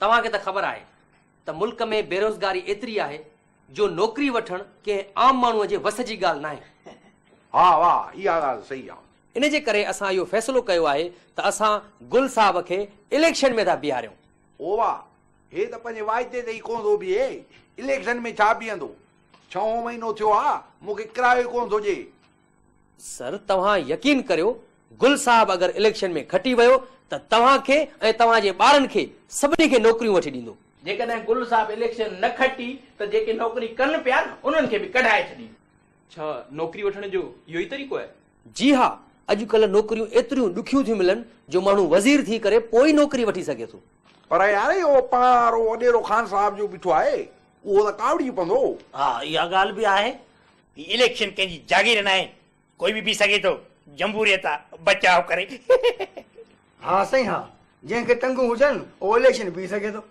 توهان کي ته خبر آهي ته ملڪ ۾ بيروزگاري ايتري آهي جو نوڪري وٺڻ ڪنهن عام ماڻهوء جي وس جي ڳالهه ناهي. ها واء اها ڳالهه صحيح آ. ان جي ڪري اسان اهو فيصلو ڪيو آهي ته اسان گل صاحب کي اليڪشن ۾ ٿا بيهاريون. او واء هي ته پنهنجي وعدي تي ئي ڪونه ٿو بيهي اليڪشن ۾ ڇا بيهندو. ڇهون مهينو ٿيو آ مون کي ڪرايو ئي ڪونه ٿو ڏي سر توهان يقين ڪريو گل صاحب اگر اليڪشن ۾ کٽي ويو ته توهان کي ۽ توهان جي ٻارن کي سڀني کي نوڪريون وٺي ڏيندو. جيڪڏهن گل صاحب اليڪشن نه کٽي ته جيڪي نوڪري ڪن پيا انهن کي به ڪڍائي ڇڏيندو. ڇا نوڪري وٺڻ جو اهو ئي طريقو آهي؟ جي ها اڄڪلهه نوڪريون ايتريون ڏکيون ٿيون ملن جو ماڻهو وزير ٿي ڪري پوء ئي نوڪري وٺي سگهي ٿو. پر يار اهو پاڻ وارو وڏيرو خان صاحب جو بيٺو آهي اهو ته ڪاوڙجي پوندو. ها اها ڳالهه به آهي هي اليڪشن ڪنهن جي جاگير ناهي ڪوئي به بيهي سگهي ٿو جمهوريت آ بچاء ڪري. ها سائين ها جنهن کي ٽنگون هجن اهو اليڪشن بيهي سگهي ٿو.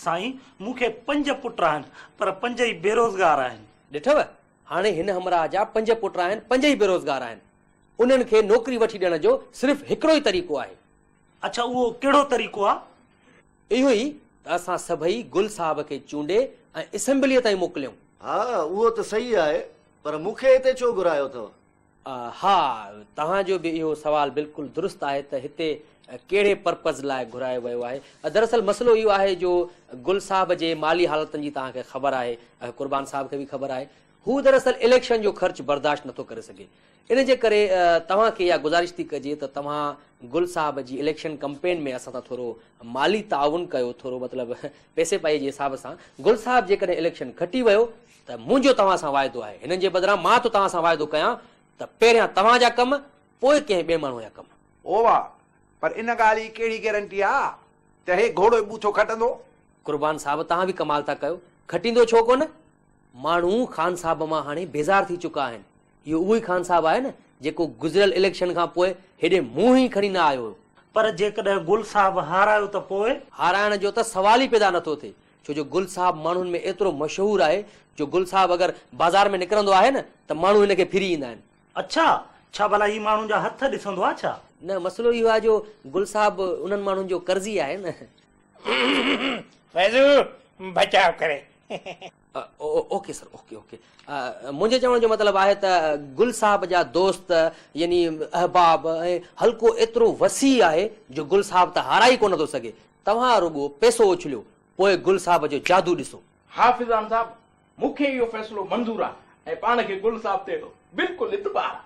سائين مون کي پنج پٽ آهن پر پنج ئي بيروزگار آهن. ڏٺو هاڻي هن همراهه جا پنج پٽ آهن پنج ئي بيروزگار آهن انهن کي نوڪري وٺي ڏيڻ جو صرف هڪڙو ئي طريقو آهي. اڇا اهو ڪهڙو طريقو آ؟ اهو ئي ته اسان سڀئي گل صاحب کي چونڊي ۽ اسيمبليء تائين موڪليائون. ها اهو ته صحيح آهي، پر مون کي هتي ڇو گهرايو اٿو؟ ها توهان جو به اهو سوال بلڪل درست آهي ته هتي ڪهڙي پرپز لاء گهرايو ويو آهي؟ دراصل مسئلو اهو آهي جو گل صاحب جي مالي حالتن جي توهان کي خبر آهي، قربان صاحب کي به خبر آهي. هو دراصل اليڪشن جو خرچ برداشت نٿو ڪري سگهي. ان جي ڪري توهان کي اها گذارش ٿي ڪجي ته توهان گل صاحب جي اليڪشن ڪمپين ۾ اسان سان ٿورو مالي تعاون ڪيو ٿورو مطلب پئسي پائي جي حساب سان گل صاحب جيڪڏهن اليڪشن کٽي ويو ته منهنجو توهان سان واعدو آهي هنن جي بدران مان ٿو توهان سان واعدو ڪيان ته پهريان توهان جا ڪم پوء ڪنهن ٻئي ماڻهو جا ڪم. او واء پر ان ڳالهه جي ڪهڙي گيرنٽي آ ته هي گهوڙو ئي ٻوٿو کٽندو. قربان صاحب توهان به ڪمال ٿا ڪيو کٽيندو ڇو ڪونه ماڻهو خان صاحب مان هاڻي بيزار ٿي چڪا آهن. اهو اهو ئي خان صاحب آهي نه جيڪو گذريل اليڪشن کان پوء هيڏي منهن ئي کڻي نه آيو هيو. پر جيڪڏهن گل صاحب هارايو ته پوء؟ هارائڻ جو ته سوال ئي پيدا نٿو ٿئي ڇو جو گل صاحب ماڻهن ۾ ايترو مشهور آهي جو گل صاحب اگر بازار ۾ نڪرندو آهي نه ته ماڻهو هن کي ڦري ايندا آهن. اڇا! ڇا ڀلا هي ماڻهن جا هٿ ڏسندو آهي ڇا؟ نه مسئلو اهو آهي جو گل صاحب انهن ماڻهن جو قرضي آهي نه. فيضو بچاء ڪري. اوڪي سر اوڪي اوڪي منهنجي چوڻ جو مطلب آهي ته گل صاحب جا دوست يعني احباب ۽ حلقو ايترو وسيع آهي جو گل صاحب ته هارائي ڪونه ٿو سگهي توهان رڳو پئسو اڇليو پوء گل صاحب جو جادو ڏسو. حافظان صاحب مون کي اهو فيصلو منظور آهي ۽ پاڻ کي گل صاحب تي بلڪل اعتبار آهي.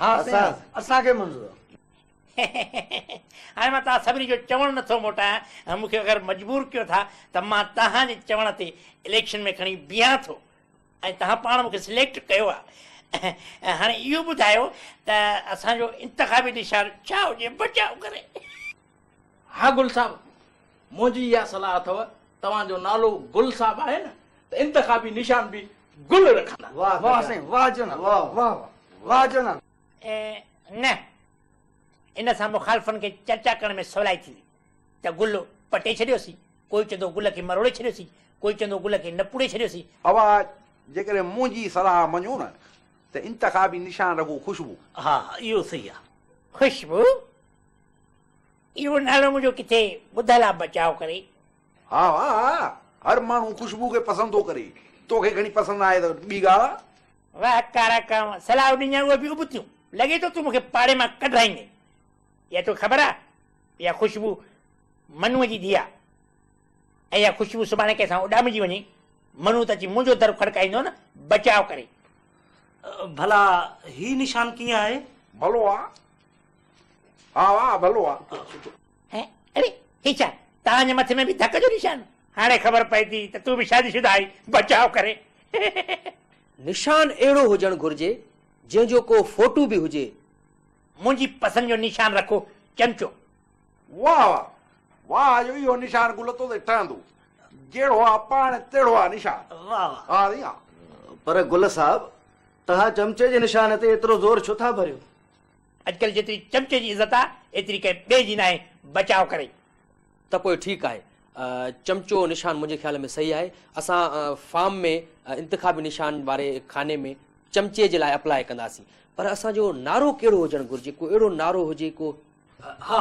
ها سائين اسان کي منظور آهي. هاڻي مان توهان سڀني جو چوڻ نه ٿو موٽايان، مون کي اگر مجبور ڪيو ٿا ته مان توهان جي چوڻ تي اليڪشن ۾ کڻي بيهان ٿو ۽ توهان پاڻ مون کي سليڪٽ ڪيو آهي. هاڻي اهو ٻڌايو ته اسان جو انتخابي نشان ڇا هجي بچاء ڪري. ها گل صاحب، منهنجي اها صلاح اٿو، توهان جو نالو گل صاحب آهي نه ته انتخابي نشان به گل رکندا. واهه سائين واهه جناب واهه واهه واهه جناب. ۽ نه ان سان مخالفن کي چرچا ڪرڻ ۾ سولائي ٿيندي ته گل پٽي ڇڏيوسين، ڪوئي چوندو گل کي مروڙي ڇڏيوسين، ڪوئي چوندو گل کي نپوڙي ڇڏيوسين. اوهان جيڪڏهن منهنجي صلاح مڃو نه ته انتخابي نشان رڳو خوشبو. ها اهو صحيح آ. خوشبو؟ اهو نالو منهنجو ڪٿي ٻڌل آ بچاء ڪري. ها ها هر ماڻهو خوشبو کي پسند ٿو ڪري. توکي گهڻي پسند آهي ته ٻي ڳالهه آ. واه ڪارا ڪانء صلاح ڏنيئي اهي به ابتيون، لڳي ٿو تون مون کي پاڙي مان ڪڍرائيندين. اها توکي خبر آهي اها خوشبو منوء جي ڌيء آهي ۽ اها خوشبو سڀاڻي ڪنهن سان اڏامجي وڃي، منو ته اچي منهنجو در کڙڪائيندو نه، بچاء ڪري. ڀلا هي نشان ڪيئن آهي؟ ڀلو آهي. ها ها ڀلو آهي. ۽ اڙي هي ڇا توهان جي مٿي ۾ به ڌڪ جو نشان. هاڻي خبر پئي ٿي ته تون به شادي شده آهين بچاء ڪري. نشان اهڙو هجڻ گهرجي جنهن جو ڪو فوٽو به هجي. منهنجي پسند جو نشان رکو چمچو. واهه واهه واهه جو اهو نشان گل تو تي ٺهندو جهڙو آ پاڻ تهڙو آ نشان واهه واهه. ها سائين ها. پر گل صاحب توهان چمچي جي نشان تي ايترو زور ڇو ٿا ڀريو. اڄڪلهه جيتري چمچي جي عزت آهي، ايتري ڪنهن ٻئي جي ناهي، بچاء ڪرئي. ته پوء ٺيڪ آهي. چمچو نشان منهنجي خيال ۾ صحيح آهي. اسان فارم ۾ انتخابي نشان واري خاني ۾ چمچي جي لاء اپلاء ڪنداسين. پر اسان جو نعرو ڪهڙو هجڻ گهرجي، ڪو اهڙو نعرو هجي ڪو. ها.